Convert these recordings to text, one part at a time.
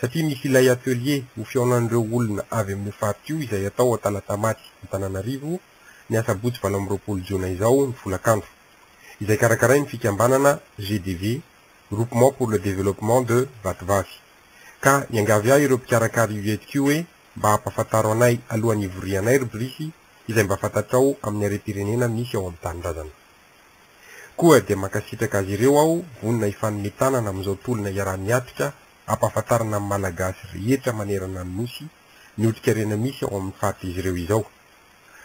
satria misy ilay atelier ho fihaonan'ireo olona avy amin'io faritra io izay atao ao Talatamaty Antananarivo ny asabotsy valo amby roapolo jona izao ny folakandro, izay karakarain'ny fikambanana GDV, Groupement pour le Développement de Vatovavy. Ka niangavy ahy ireo mpikarakara io hetsika io hoe mba ampafantaro anay alohan'ny hivorianay ry Brice izay mba fantatrao amin'ny harem-pirenena misy ao amin'ny tanindrazana. Koa dia mankasitraka azy ireo aho vonona hifanome tanana amin'izao tolona iaraha-miatrika hampahafantarana amin'ny Malagasy rehetra manerana ny Nosy ny otrikarena misy ao amin'ny faritr'izy ireo izao.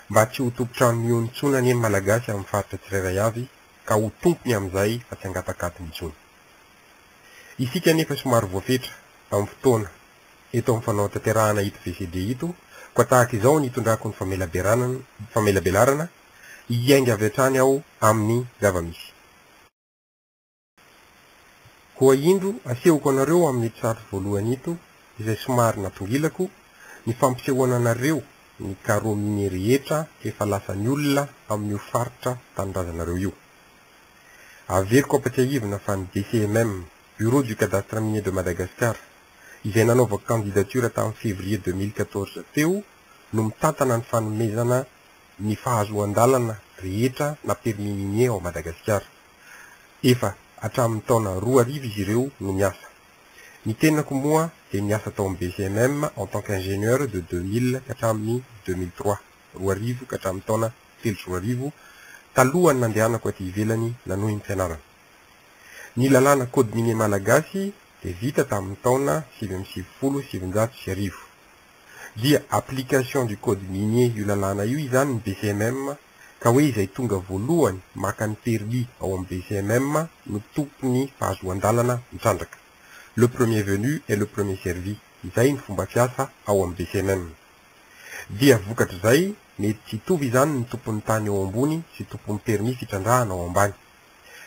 Mba tsy ho tompon-trano mihono intsony anie ny Malagasy amin'ny faritra tsirairay avy ka ho tompony amin'izay fa tsy hangatakatony intsony. Isika anefa somary voafetra amin'ny fotoana eto amin'ny fanaotanterahana ito VCD ito koa tahaka izao ny hitondrako ny famelaberanana famelabelarana hiainga avy hatrany ao amin'ny zava-misy. Koa indro asehoko anareo amin'ito sary voalohany ito, izay somary natongilako, ny fampisehoana anareo ny carreaux miniers rehetra efa lasan'ny olona amin'io faritra tanindrazanareo io. Averiko ampatsiahivina fa ny BCMM, Bureau du Cadastre Minier de Madagascar, izay nanaovako candidature tamin'ny février deux mille quatorze teo no mitantana ny fanomezana ny fahazoan-dalana rehetra na permis minier ao Madagasikara. Efa hatramin'ny taona roa arivo izy ireo no miasa. Ny tenako moa dia niasa tao amin'ny BCMM en tant qu'ingénieur de deux mille ka hatramin'ny deux mille trois, roa arivo ka hatramin'ny taona telo sy roa arivo, talohan'ny nandehanako aty ivelany nanohy ny fianarana. Ny lalàna Code minier malagasy dia vita tamin'ny taona sivy amby sivifolo sy sivinjato sy arivo. dia application du code minier io lalàna io izany ny BCMM ka hoe izay tonga voalohany maka ny permis ao amin'ny BCMM no tompon'ny fahazoan-dalana mitrandraka. Le premier venu est le premier servi, izay ny fomba fiasa ao amin'ny BCMM. Dia vokatr'izay mety tsy hitovy izany ny tompon'ny tany ao ambony sy tompon'ny permis fitrandrahana ao ambany.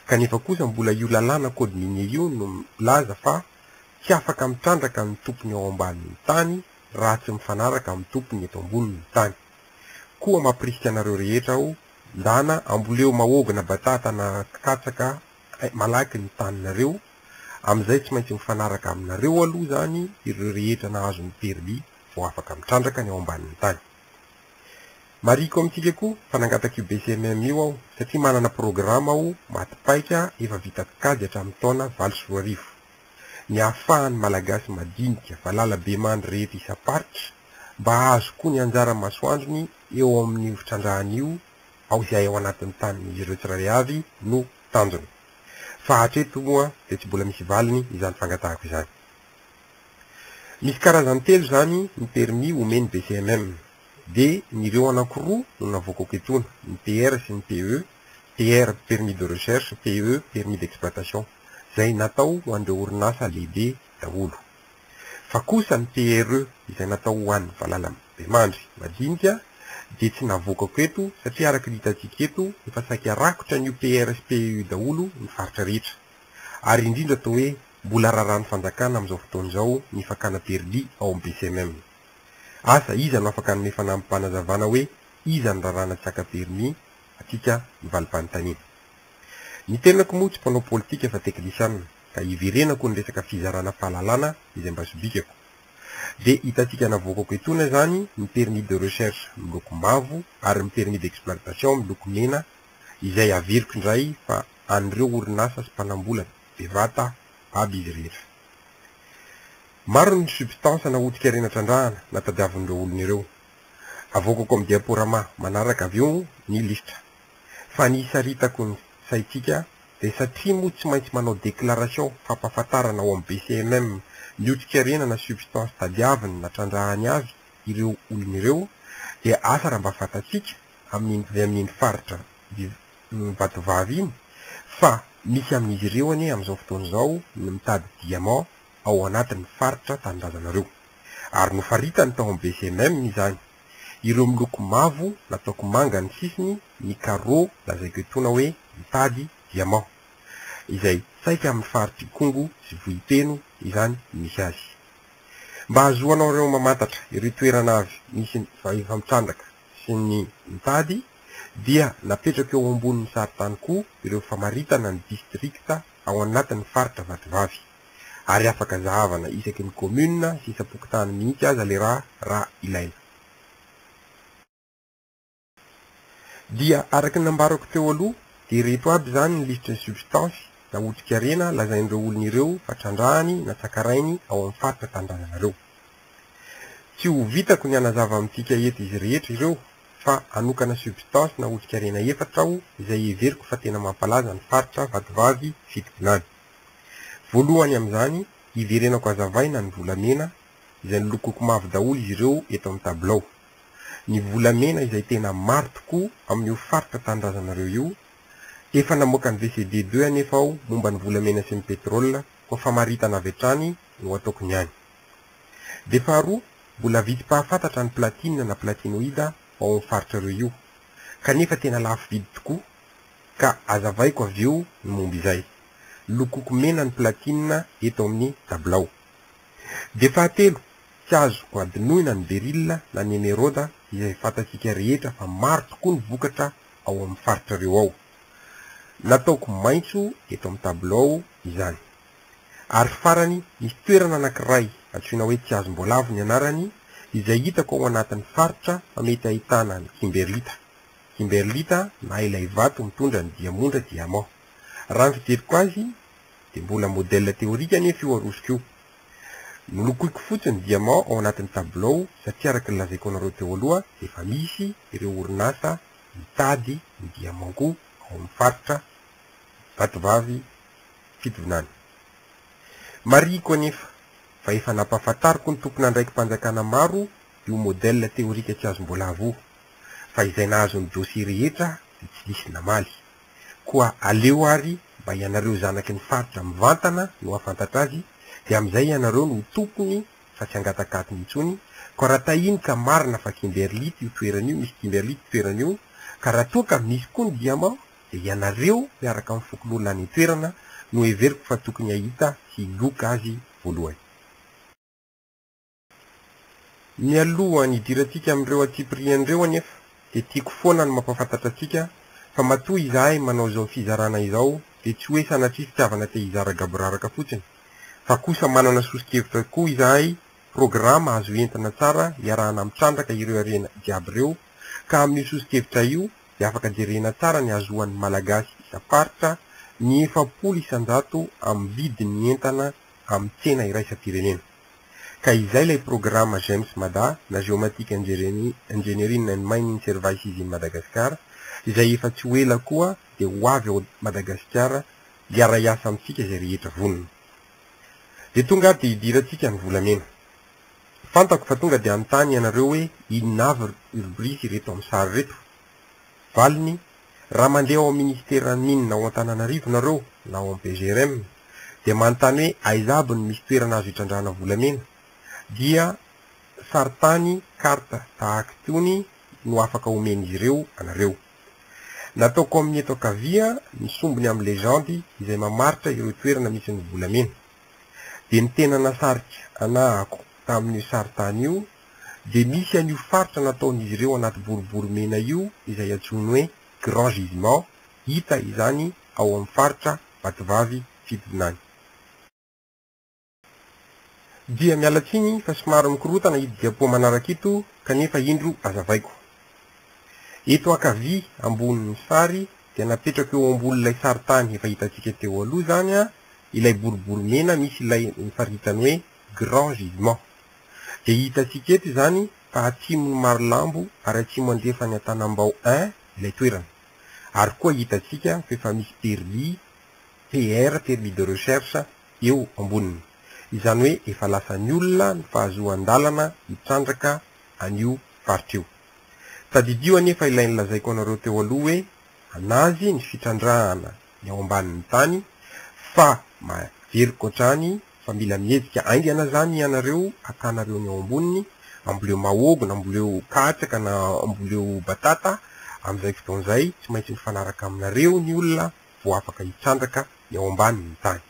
Kanefa kosa mbola io lalàna code minier io no milaza fa Tsy afaka mitrandraka ny tompony ao ambanin'ny tany raha tsy mifanaraka amin'ny tompony eto ambonin'ny tany. Koa mampirisika anareo rehetra aho, ndana amboleo mahôgy na batata na katsaka malaky ny taninareo, amin'izay tsy maintsy mifanaraka aminareo aloha izany ireo rehetra nahazo ny permis vao afaka mitrandraka ny ao ambanin'ny tany. Marihiko amintsika koa fa nangataka io BCMM io aho satria manana programa aho maty paika efa vita kajy hatramin'ny taona valo sy roa arivo. ny hahafahan'ny Malagasy madinika valalabemandry rehetra isam-paritra mba hahazo koa ny anjara masoandrony eo amin'io fitrandrahana io ao izay ao anatin'ny tanin'izy ireo tsirairay avy no tanjona fa hatreto moa dia tsy mbola misy valiny izany fangatahako izany. Misy karazany telo izany ny permis omen'ny BCMM dia ny ireo anankiroa no navoakako etoana, ny PR sy ny PE, PER, Permis de Recherche, PE, Permis d'Exploitation, izay natao ho an'ireo orinasa lehibe daholo. Fa kosa ny PRE izay natao ho an'ny valalambemandry madinika dia tsy navoakako eto satria araka ny hitantsika eto efa saika rakotra an'io PER sy PE io daholo ny faritra rehetra. Ary indrindra toa hoe mbola raràn'ny fanjakana amin'izao fotoana izao ny fakàna permis ao amin'ny BCMM. Asa iza no afaka hanome fanampanazavana hoe iza no raràna tsy haka permis? atika mivalipanontaniana. Ny tenako moa tsy mpanao politika fa teknisianina ka iverenako ny resaka fizarana fahalalana izay mba sobikako. Dia hitantsika navoakako etoana izany ny permis de recherche miloko mavo ary ny permis d'exploitation miloko mena izay averiko indray fa an'ireo orinasa sy mpanambola bevata aby izy rehetra. Maro ny substance nahodika ireny atrandrahana na tadiavin'ireo olona ireo. Avoakako amin'ny diaporama manaraka avy eo ny lisitra. Fa ny isaritako ny saintsika dia satria moa tsy maintsy manao déclaration fampahafantarana ao amin'ny BCMM ny otrikairena na substance tadiaviny na trandrahany avy ireo olona ireo dia asa raha mba fantatsika amin'iny avy amin'iny faritra Vatovavy iny fa misy amin'izy ireo anie amin'izao fotoana izao ny mitady diamant ao anatin'ny faritra tanindrazanareo. Ary nofaritany tao amin'ny VCMM izany. Ireo miloko mavo nataoko manga ny sisiny ny carreaux lazaiko etoana hoe mitady diamant. Izay saika amin'ny faritr'Ikongo sy Vohipeno izany misy azy. Mba hahazoanareo mamantatra ireo toerana avy misy ny efa mitrandraka sy ny mitady dia napetrako eo ambonin'ny sarintany koa ireo famaritana ny distrikta ao anatin'ny faritra Vatovavy. ary afaka zahavana isaky ny commune sy isam-pokontany mihitsy aza le raha raha ilaina. Dia araky ny nambarako teo aloha dia ireto aby izany ny lisitry ny substance na otrikarena lazain'ireo olona ireo fa trandrahany na tsakarainy ao amin'ny faritra tanindrazanareo. Tsy ho vitako ny hanazava amintsika eto izy rehetra ireo fa hanokana substance na otrikarena efatra aho izay heveriko fa tena mampalaza ny faritra Vatovavy Fitovinany. Voalohany amin'izany, hiverenako hazavaina ny volamena izay nolokoiko mavo daholo izy ireo eto amin'ny tabilao. Ny volamena izay tena maro tokoa amin'io faritra tanindrazanareo io. Efa namoaka ny VCD deux anefa aho momba ny volamena sy ny pétrole koa famaritana avy hatrany no ataoko ny any. Dia faharoa, mbola vitsy mpahafantatra ny platine na platinoïde ao amin'ny faritrareo io. Kanefa tena lafo vidy tokoa ka azavaiko avy eo ny momba izay. Lokoko mena ny platinina eto amin'ny tabilao. Dia fahatelo, tsy azo hadinoina ny beryl na ny emeraude izay fantatsika rehetra fa maro tokoa ny vokatra ao amin'ny faritrareo ao. Nataoko maitso eto amin'ny tabilao izany. Ary farany, misy toerana anankiray antsoina hoe Tsiazimboalavo ny anarany izay hitako ao anatin'ny faritra fa mety ahitana ny kimberlita. kimberlita na ilay vato mitondra ny diamondra, diamant. Raha ny fijeriko azy dia mbola modèle théorique anefa io arosoko io. Nolokoiko fotsy ny diamant ao anatin'ny tabilao satria araka ny lazaiko anareo teo aloha dia efa misy ireo orinasa mitady ny diamant-ko ao amin'ny faritra Vatovavy Fitovinany. Marihiko anefa fa efa nampahafantariko ny tompon'andraiki-panjakana maro io modèle théorique tsy azom-boalavo io. fa izay nahazo ny dossier rehetra dia tsy nisy namaly. Koa aleo ary mba ianareo zanaky ny faritra mivantana no hahafantatra azy dia amin'izay ianareo no ho tompony fa tsy hangatakatony intsony, koa raha tahiny ka marina fa Kimberlite io toerana io misy Kimberlite toerana io ka raha toa ka misy koa ny diamant dia ianareo miaraka amin'ny fokonolona any an-toerana no heveriko fa tokony hahita sy hiloka azy voalohany. Mialoha ny hidirantsika amin'ireo antsipiriany ireo anefa dia tiako foana ny mampahafantatra antsika fa matoa izahay manao izao fizarana izao dia tsy hoe sanatria fitiavana te hizara gaboraraka fotsiny fa kosa manana soso-kevitra koa izahay, programa azo entina tsara iarahana mitrandraka ireo harena jiaby ireo ka amin'io soso-kevitra io dia afaka jerena tsara ny hahazoan'ny Malagasy isam-paritra ny efapolo isan-jato amin'ny vidin'ny entana amin'ny tsena iraisam-pirenena. Ka izay ilay programa Gems Mada na Geomatic Engineering and Mining Services in Madagascar izay efa tsy ho ela koa dia ho avy ao Madagasikara hiara-hiasa amintsika izay rehetra vonona. Dia tonga ary dia hidirantsika ny volamena. Fantako fa tonga dia hanontany ianareo hoe inona avy ry bris ireto amin'ny sary ireto? Valiny, Raha mandeha ao amin'ny Ministeran'ny Mines ao Antananarivo nareo na ao amin'ny PGRM dia manontany hoe aiza aby no misy toerana azo hitrandrahana volamena dia saritany, carte, tahaka itony no afaka omen'izy ireo anareo. Nataoko amin'ny eto ankavia ny sombiny amin'ny legendy izay mamaritra ireo toerana misy ny volamena. Dia ny tena nasarika anahako tamin'io saritany io dia misy an'io faritra nataon'izy ireo anaty boribory mena io izay antsoiny hoe Grand Gisement, hita izany ao amin'ny faritra Vatovavy Fidinany. Dia miala tsiny fa somary mikorontana ito diapoa manaraka ito kanefa indro hazavaiko. Eto ankavia ambonin'ny sary dia napetrako eo ambonin'ilay sarintany efa hitantsika teo aloha izany ilay boribory mena misy ilay nofaritany hoe Grand Gisement. Dia hitantsika eto izany fa atsimon'i Marolambo ary atsimo andrefan'i Antanambao I ilay toerana. Ary koa hitantsika fa efa misy permis, PR, permis de recherche, eo amboniny. Izany hoe efa lasan'ny olona ny fahazoan-dalana hitrandraka an'io faritra io. Tadidio anefa ilay nolazaiko anareo teo aloha hoe an'azy ny fitrandrahana eo ambanin'ny tany fa mahery koatrany fa mila mihezika aingana zany ianareo akanareo ny ao amboniny amboleo mahogny amboleo katsaka na amboleo batata amzay fotoana zay tsy maintsy mifanaraka aminareo ny olona vo afaka hitrandraka ny ao ambanin'ny tany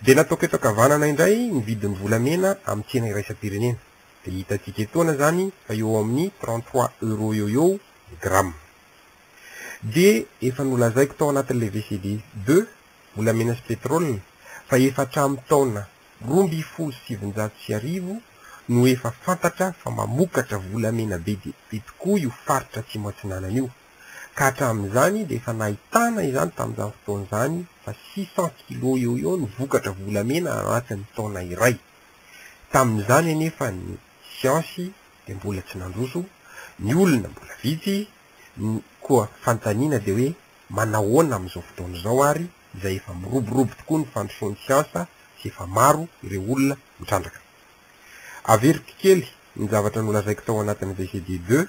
de nataoko eto akavanana indray ny vidin'ny volamena amin'ny tsena iraisam-pirenena de hitantsika etoana zany fa eo amin'ny trente trois euros eo eo ny gramme. Dia efa nolazaiko tao anatin'ilay VCD deux, volamena sy petrol, fa efa hatramin'ny taona roa ambin'ny folo sy sivinjato sy arivo no efa fantatra fa mamokatra volamena be dia be tokoa io faritra Atsimo Atsinanana io, ka hatramin'izany dia efa nahitana izany tamin'izany fotoana izany fa six cents kilos eo ho eo no vokatra volamena anatin'ny taona iray. Tamin'izany anefa ny siansy dia mbola tsy nandroso, ny olona mbola vitsy, Ny koa fanontaniana dia hoe manahoana amin'izao fotoana izao ary izay efa miroborobo tokoa ny fandrosoan'ny siansa sy efa maro ireo olona mitrandraka. Averiko kely ny zavatra nolazaiko tao anatin'ny VCD deux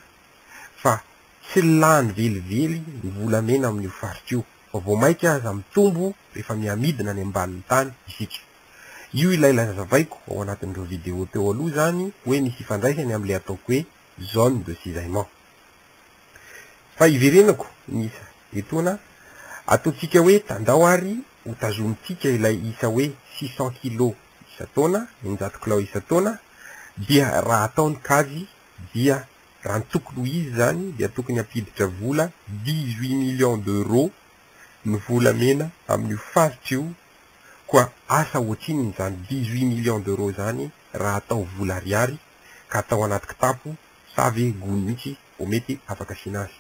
fa tsy lany velively ny volamena amin'io faritra io fa vao maika aza mitombo rehefa mihamidina any ambanin'ny tany isika. Io ilay lazavaiko ao anatin'ireo video teo aloha izany hoe misy ifandraisany amin'ilay ataoko hoe zone de cisaillement. Fa hiverenako ny isa etoana ataontsika hoe tandao ary ho tazomintsika ilay isa hoe six cents kilos isan-taona, eninjato kilao isan-taona, dia raha atao ny kajy dia raha ny tokony ho izy izany dia tokony hampiditra vola dix huit millions d'euros ny volamena amin'io faritra io, koa asa ohatrinona izany dix huit millions d'euros izany raha atao vola ariary ka atao anaty kitapo Sa ve gony mihitsy vao mety afaka asiana azy?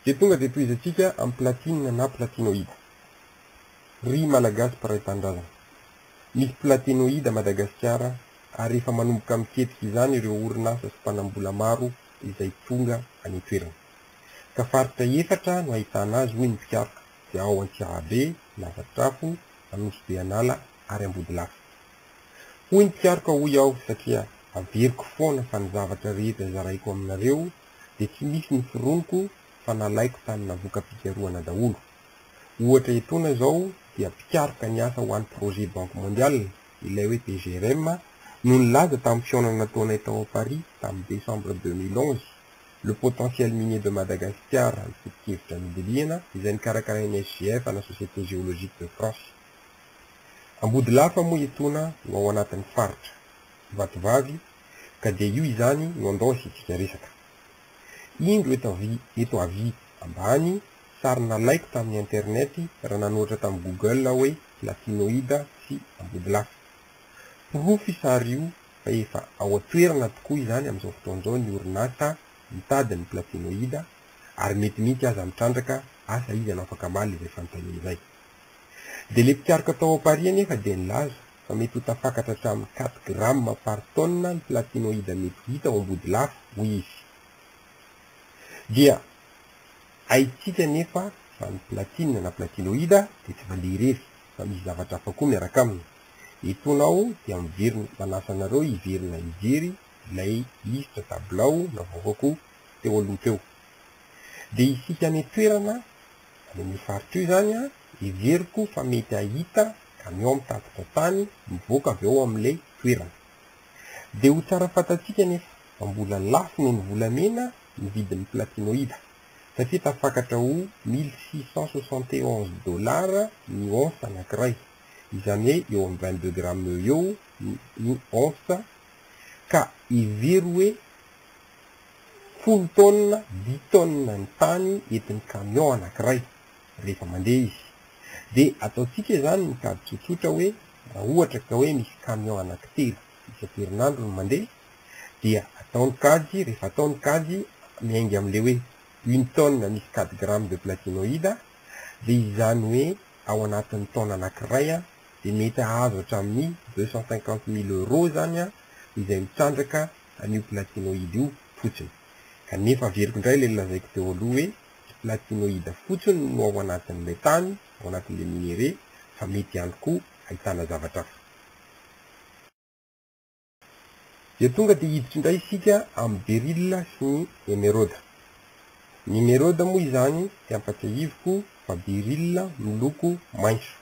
Dia tonga dia tohizantsika amin'ny platine na platinoïde. Ry Malagasy mpiray tanindrazana, misy platinoïde à Madagasikara ary efa manomboka miketrika izany ireo orinasa sy mpanambola maro izay tonga any an-toerana. Ka faritra efatra no ahitana azy hoy ny mpikaroka dia ao Antsiahabe, Lavadrafo, Anosibe An'ala ary Ambodilafy. Hoy ny mpikaroka hoy aho satria averiko foana fa ny zavatra rehetra zaraiko aminareo dia tsy misy noforoniko fa nalaiko tamina voka-pikarohana daholo. Ohatra etoana izao dia mpikaroka niasa ho an'ny projet Banque Mondiale, ilay hoe PGRM, no nilaza tamin'ny fihaonana nataonay tao à Paris tamin'ny décembre deux mille onze, le potentiel minier de Madagascar ny foto-kevitra nodilihana izay nikarakarain'ny SGF ana Société Géologique de France. Ambodilafa moa etoana no ao anatin'ny faritra Vatovavy ka dia io izany no andao asiantsika resaka. Indro eto avy eto avy ambany sary nalaiko tamin'ny internet raha nanoratra tamin'ny google aho hoe Latinoida sy Ambodilafa. Porofo io sary io fa efa ao an-toerana tokoa izany amin'izao fotoana izao ny orinasa mitady ny platinoida ary mety mihitsy aza mitrandraka asa izy hanao fakamaly izay fanontaniana izay. Dia ilay mpikaroka tao Paris anefa dia nilaza fa mety ho tafakatra hatramin'ny quatre grammes par tonne ny platinoïde mety ho hita ao Ambodilafo, hoy izy. Dia haintsika anefa fa ny platine na platinoïde dia tsy mandeha irery fa misy zavatra hafa koa miaraka aminy. Etoana aho dia miverina manasa anareo hiverina hijery ilay lisitra tabilao navoakako teo aloha teo. Dia isika any an-toerana, Amin'io faritra io izany, heveriko fa mety hahita kamiao mitatitra tany mivoaka avy ao amin'ilay toerana. Dia ho tsara fantatsika anefa fa mbola lafo noho ny volamena ny vidin'ny platinoida, satria tafakatra ho mille six cent soixante et onze dollars ny once anankiray, izany hoe eo amin'ny vingt deux grammes eo eo ny once, ka hevero hoe folo taonina, dix taonina ny tany entin'ny camion anankiray rehefa mandeha izy. Dia ataontsika izany ny kajy tsotsotra hoe raha ohatra ka hoe misy camion anankitelo isan-kerinandro no mandeha dia atao ny kajy, rehefa atao ny kajy miainga amin'ilay hoe une tonne misy quatre grammes de platinoïde dia izany hoe ao anatin'ny taona anankiray dia mety hahazo hatramin'ny deux cent cinquante mille euros izany izay mitrandraka an'io platinoïde io fotsiny. Kanefa averiko indray ilay nolazaiko teo aloha hoe tsy platinoïde fotsiny no ao anatin'ilay tany, ao anatin'ilay minerais, fa mety ihany koa ahitana zavatra hafa. Dia tonga dia hiditra indray isika amin'ny beryl sy ny emeraude. Ny emeraude moa izany, tsy ampatsiahiviko fa beryl miloko maitso.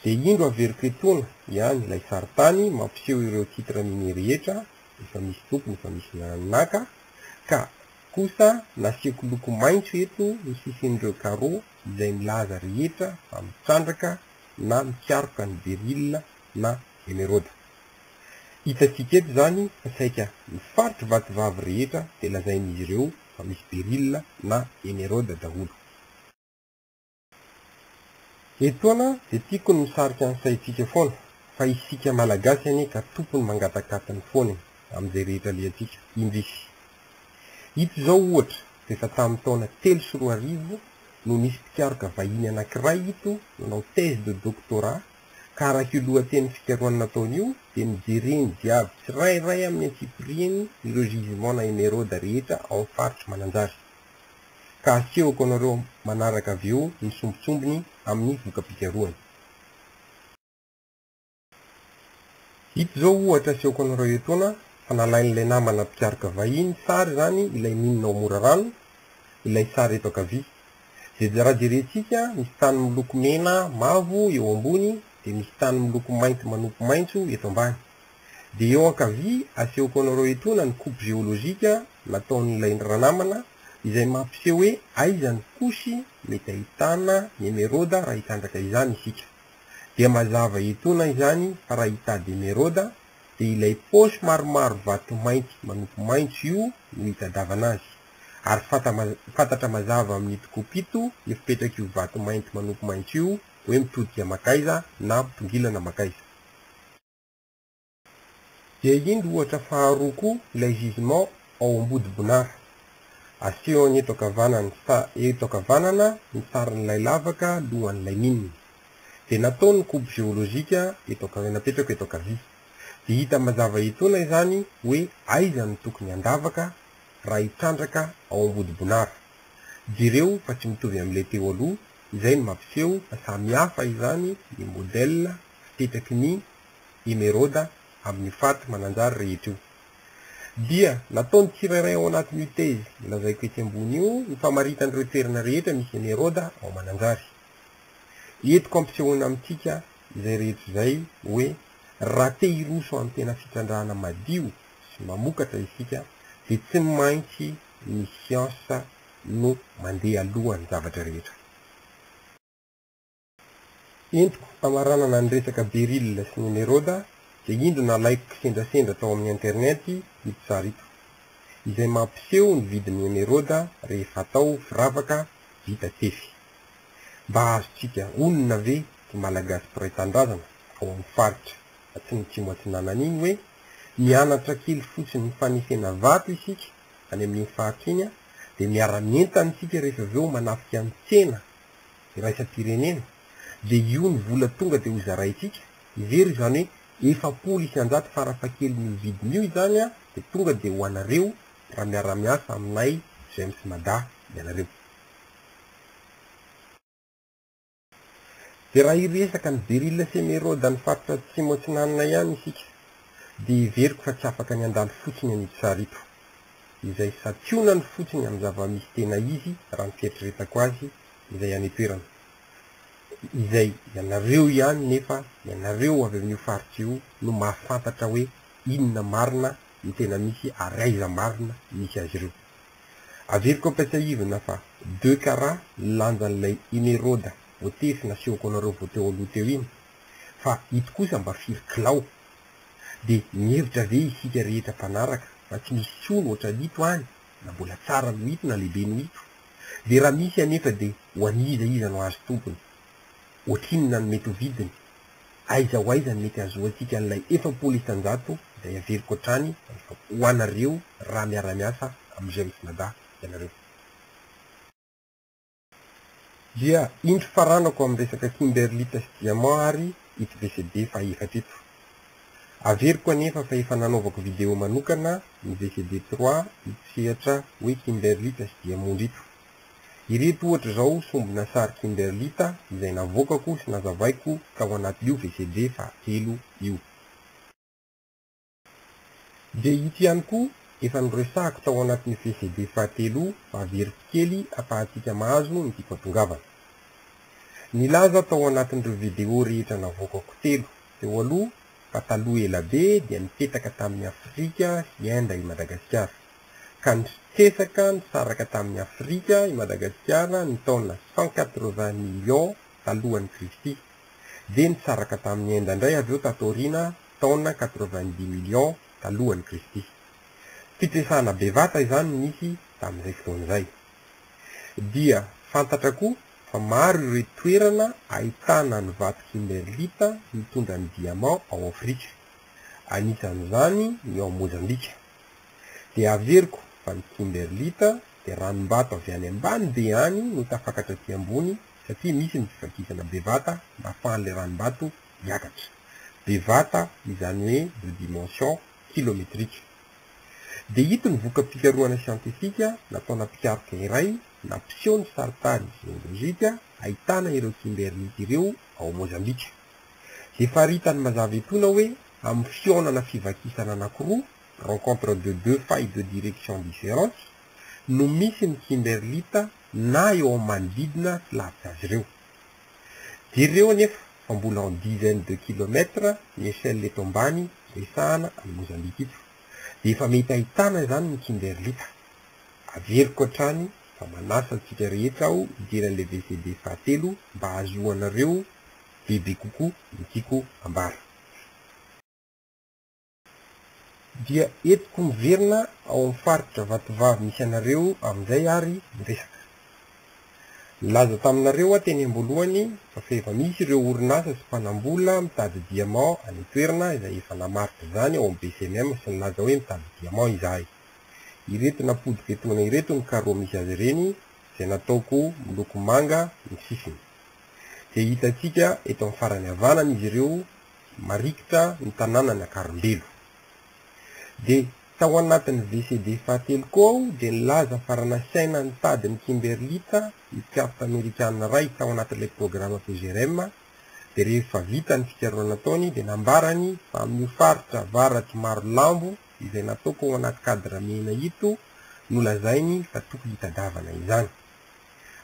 Dia indro averiko etoana ihany ilay sarintany mampiseho ireo titre mini rehetra efa misy tompony efa misy naka ka kosa nasiako loko maitso eto ny sisin'ireo carreau izay milaza rehetra fa mitrandraka na mikaroka ny beryl na emeraude. Hitantsika eto izany fa saika ny faritry vatovavy rehetra dia lazain'izy ireo fa misy beryl na emeraude daholo. Etoana dia tiako ny misarika ny saintsika foana fa isika malagasy anie ka tompony mangatakatiny foana e amin'izay rehetra alehantsika indrisy. Ito izao ohatra f'efa tamin'ny taona telo sy roa arivo no nisy mpikaroka vahiny anankiray ito nanao thèse de doctorat ka araka io lohateniny fikarohana nataony io dia nojereny jiaby tsirairay amin'ny antsipiriany ireo gisements na emeraudes rehetra ao amin'ny faritry Mananjary. ka asehoko anareo manaraka avy eo ny sombintsombiny amin'ny voka-pikarohana. Ito izao ohatra asehoko anareo etoana fa nalain'ilay namana mpikaroka vahiny sary izany ilay mine ao Morarano, ilay sary eto ankavia. Izay raha jerentsika, misy tany miloko mena mavo eo ambony dia misy tany miloko mainty manopy maitso eto ambany. Dia eo ankavia asehoko anareo etoana ny coupe géologique nataon'ilay ranamana izay mampiseho hoe aiza ny couche mety ahitana ny emeraude raha hitandraka izany isika. Dia mazava etoana izany fa raha hitady emeraude dia ilay poche maromaro vato mainty manopy maintso io no hitadavana azy. Ary fantatra mazava amin'ito coupe ito ny fipetrak'io vato mainty manopy maintso io hoe mitodika makaiza na mitongilana makaiza. Dia indro ohatra faharoa koa ilay jugement ao Ambodibonary. Asehony eto ankavanana eto ankavanana ny sarin'ilay lavaka lohan'ilay mine. Dia natao ny coupe géologique eto anka napetrako eto ankavia. Dia hita mazava etoana izany hoe aiza no tokony handavaka raha hitrandraka ao Ambodibonary. Jereo fa tsy mitovy amin'ilay teo aloha, izay no mampiseho fa samy hafa izany ny modèle fipetaky ny i Meroda amin'ny faty mananjary rehetra io. Dia nataon'ny tsirairay ao anatin'io thèse lazaiko etsy ambony io ny famaritana ireo toerana rehetra misy an'i Heroda ao Mananjary. Entiko ampisehoana amintsika izay rehetra izay hoe raha te hiroso amin'ny tena fitrandrahana madio sy mamokatra isika dia tsy maintsy ny siansa no mandeha alohan'ny zavatra rehetra. entiko amaranana ny resaka Beryl sy Nemeroda dia indro nalaiko kisendrasendra tao amin'ny internet ito sary ito, izay mampiseho ny vidin'ny emeroda rehefa atao firavaka vita tefy. Mba azontsika onona ve ry Malagasy mpiray tanindrazana ao amin'ny faritra Atsimotsimo Atsinanana iny hoe mianatra kely fotsiny ny fanesena vato isika any amin'iny faritra iny dia miara-mientana isika rehefa avy eo manafika ny tsena iraisam-pirenena dia io ny vola tonga dia hozaraintsika, heverina izany hoe efapolo isan-jato farafahakelin'io vidiny io izany an, dia tonga dia ho anareo raha miara-miasa aminay James Mada ianareo. Dia raha hiresaka ny Beril sy Emeraude any faritra Atsimo Atsinanana ihany isika dia heveriko fa tsy afaka ny handalo fotsiny an'ito sary ito. izay santionany fotsiny amin'ny zava-misy tena izy raha ny fieritreretako azy izay any an-toerana, izay ianareo ihany nefa ianareo avy amin'io faritra io no mahafantatra hoe inona marina no tena misy ary aiza marina misy azy ireo. Averiko ampiasaivina fa deux carats ny lanjan'ilay Imerauda voatefy nasehoko anareo vao teo aloha teo iny, fa ito kosa mba firy kilao? Dia mihevitra ve isika rehetra mpanaraka fa tsy misy tsony ohatran'ito any na mbola tsara noho ito na lehibe noho ito? Dia raha misy anefa dia ho an'iza iza no hahazo tombony? Ohatrinona no mety ho vidiny? Aiza ho aiza no mety hahazoantsika an'ilay efapolo isan-jato izay averiko hatrany ho anareo raha miara-miasa amin'izay mifanadaha ianareo? Dia indro faranako amin'ny resaka kimberlite sy diamant ary ito VCD fahaefatra ito. Averiko anefa fa efa nanaovako video manokana ny VCD trois ito sehatra hoe kimberlite sy diamondra ito. Ireto ohatra izao sombina sary kimberlite izay navoakako sy nazavaiko tao anatin'io VCD fahatelo io. Dia ito ihany koa efa noresahako tao anatin'ny CCD fahatelo fa very tsikely afahantsika mahazo ny dipampongavana. Nilaza tao anatin'ireo video rehetra navoakako telo teo aloha fa taloha ela be dia nipetaka tamin'i Afrika sy Inde i Madagasikara, ka nitresaka nisaraka tamin'i Afrika i Madagasikara ny taona cent quatre-vingts millions talohan'i Kristy, dia nisaraka tamin'i Inde indray avy eo tato aoriana taona quatre-vingt-dix millions talohan'i Kristy. Fitresahana bevata izany nisy tamin'izay fotoana izay. Dia fantatra koa fa maro ireo toerana ahitana ny vato kimerlita mitondra ny diamant ao Afrika, anisan'izany ny ao Mozambika. Dia averiko fa ny kimerlita dia ranom-bato avy any ambany be any no tafakatra aty ambony satria misy ny fivakisana bevata mba afahan'ilay ranom-bato miakatra, bevata izany hoe de dimension kilometrique. Dia ito ny voka-pikarohana siantifika nataona mpikaroka iray nampiseho ny sarin-tany geolojika ahitana ireo kimberlite ireo ao Mozambika. Dia faritany mazava etoana hoe amin'ny fihaonana fivakisana anankiroa, rencontre de deux failles de direction differentes, no misy ny kimberlite na eo amin'ny manodidina tsy lavitra azy ireo. Jereo anefa fa mbola en dizaines de kilomètres ny échelle eto ambany resahana an'i Mozambika ito. Dia efa mety ahitana izany ny Kimberlita. Averiko hatrany fa manasa antsika rehetra aho hijery an'ilay VCD fahatelo mba hahazoanareo bebe kokoa ny tiako ambara. Dia entiko miverina ao amin'ny faritra Vatovavy misy anareo amin'izay ary ny resaka. Nilaza taminareo aho teny am-boalohany fa efa misy ireo orinasa sy mpanam-bola mitady diamant any an-toerana izay efa namaritra izany ao amin'ny BCMM sy nilaza hoe mitady diamant izahay. Ireto nampodiko etoana ireto ny carreaux misy azy ireny izay nataoko miloko manga ny sisiny. Dia hitantsika eto amin'ny farany havanana izy ireo marikitra ny tanànan'i Akarimbelo. Dia tao anatin'ny VCD fahatelo koa aho dia nilaza fa raha nasaina nitady ny Kimberlita, mpikarta amerikana iray tao anatin'ilay programa PGRM, dia rehefa vita ny fikarohana nataony dia nambarany fa amin'io faritra avaratr'i Marolambo izay nataoko ao anaty cadre mena ito no lazainy fa tokony hitadiavana izany.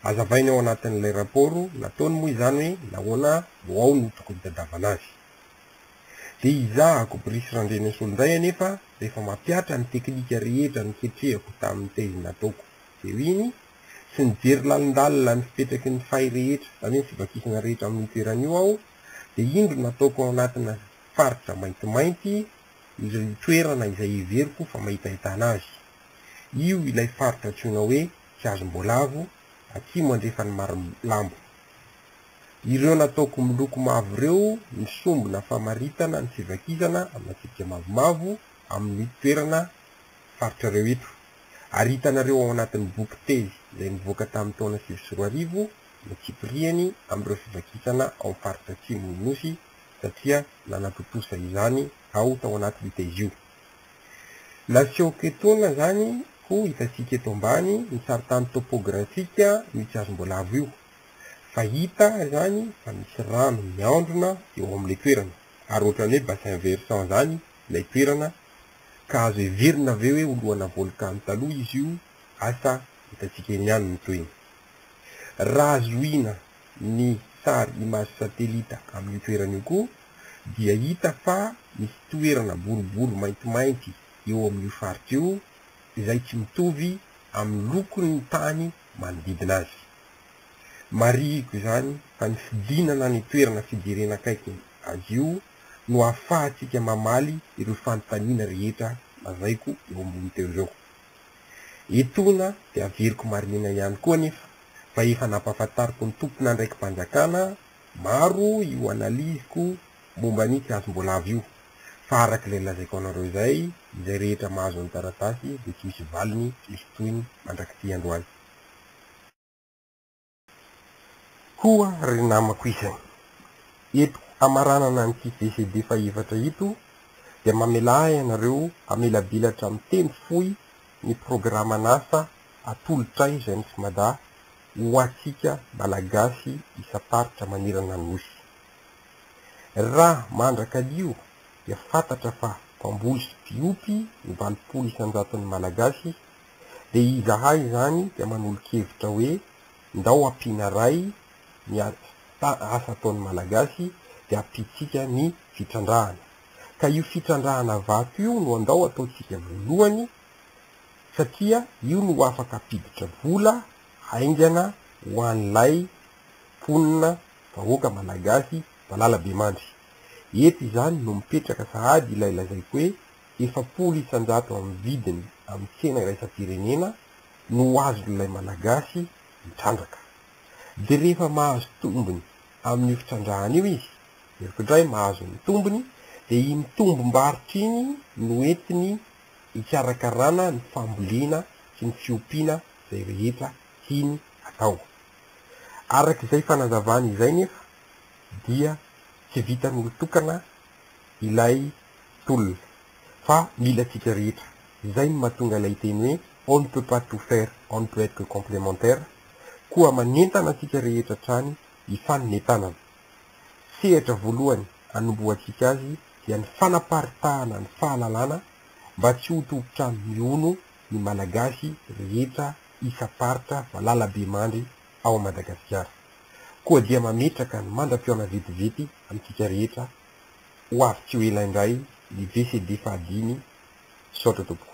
Hazavainy ao anatin'ilay rapôro nataony moa izany hoe nahoana no ao no tokony hitadiavana azy. Dia izaho Akobirisy Randrianaisolo indray anefa rehefa mampihatra ny teknika rehetra noketrehako tamin'ny thèse nataoko teo iny sy nijery lalindalina ny fipetraky ny fay rehetra izany hoe ny fivakisana rehetra amin'io toerana io aho dia indro nataoko ao anatina faritra maintimainty io toerana izay heveriko fa mahitahitana azy io ilay faritra antsoina hoe tsy azom-boalavo atsimo andrefan'ny Marolambo. Ireo nataoko miloko mavo ireo misombina famaritana ny fivakizana amina tsipika mavomavo amin'ny toerana faritrareo eto, ary hitanareo ao anatin'ny boky tezy izay nivoaka tamin'ny taona sivy sy roa arivo no tsipiriany amin'ireo fivakisana ao amin'ny faritra atsimon'ny Nosy satria nanatontosa izany aho tao anatin'io tezy io. Nasehoako etoana izany ho hitantsika eto ambany ny sarintany topografika misy hazomboalavo io. Fa hita izany fa misy rano miandrona eo amin'ilay toerana, ary ohatran'ny hoe bassin versant izany ilay toerana, ka azo heverina ve hoe ho lohana volkano taloha izy io? Asa hitantsika eny ihany ny tohiny. Raha zohina ny sary image satellite amin'io toerana io koa, dia hita fa misy toerana boribory maintimainty eo amin'io faritra io izay tsy mitovy amin'ny lokon'ny tany manodidina azy. Marihiko izany fa ny fidinana any an-toerana fijerena akaiky azy io no ahafahantsika mamaly ireo fanontaniana rehetra lazaiko eo ambony teo ireo. Etoana dia averiko marihina ihany koa anefa fa efa nampahafantariko ny tompon'andraiki-panjakana Maro io analyse-ko momba an'io tsy azo mbola avy io, fa arak'ilay lazaiko anareo izay, izay rehetra mahazo ny taratasy dia tsy misy valiny tsisy tohiny mandrak'ity androany. Koa ry namako isany, eto hamaranana an'ity VCD fahefatra ito dia mamelà ahy ianareo hamelabilatra miteny fohy ny programan'asa atolotray J'aime Smada ho antsika Malagasy isam-paritra manerana ny Nosy. Raha mandra-kalio dia fantatra fa mpamboly sy mpiompy ny valopolo isan-jaton'ny Malagasy dia izahay izany dia manolo-kevitra hoe ndao ampiana ray ny asa ataon'ny Malagasy dia ampiantsika ny fitrandrahana. Ka io fitrandrahana vato io no andao ataontsika voalohany satria io no afaka hampiditra vola haingana ho an'ilay mponina, vahoaka Malagasy, valala be mandry. Eto izany no mipetraka sahady ilay lazaiko hoe efapolo isanjato amin'ny vidiny amin'ny tsena iraisam-pirenena no ho azon'ilay Malagasy mitrandraka. Dia rehefa mahazo tombony amin'io fitrandrahana io izy, jeriko indray, mahazo ny tombony, dia iny tombom-barotra iny no entiny hikarakarana ny fambolena sy ny fiompiana izay rehetra tiany atao. Araka izay fanazavany izay nefa dia tsy vitan'olon-tokana ilay tolona fa mila antsika rehetra. Izay no mahatonga ilay teny hoe on ne peut pas tout faire, on ne peut être que complémentaire, koa manentana antsika rehetra hatrany hifanome tanana. sehatra voalohany anombohantsika azy dia ny fanaparitahana ny fahalalana mba tsy ho tompon-trano mihono ny Malagasy rehetra isam-paritra valalabemandry ao Madagasikara. Koa dia mametraka ny mandra-pihaona vetivety amintsika rehetra ho avy tsy ho ela indray ny VCD fahadimy. Misaotra tompoko.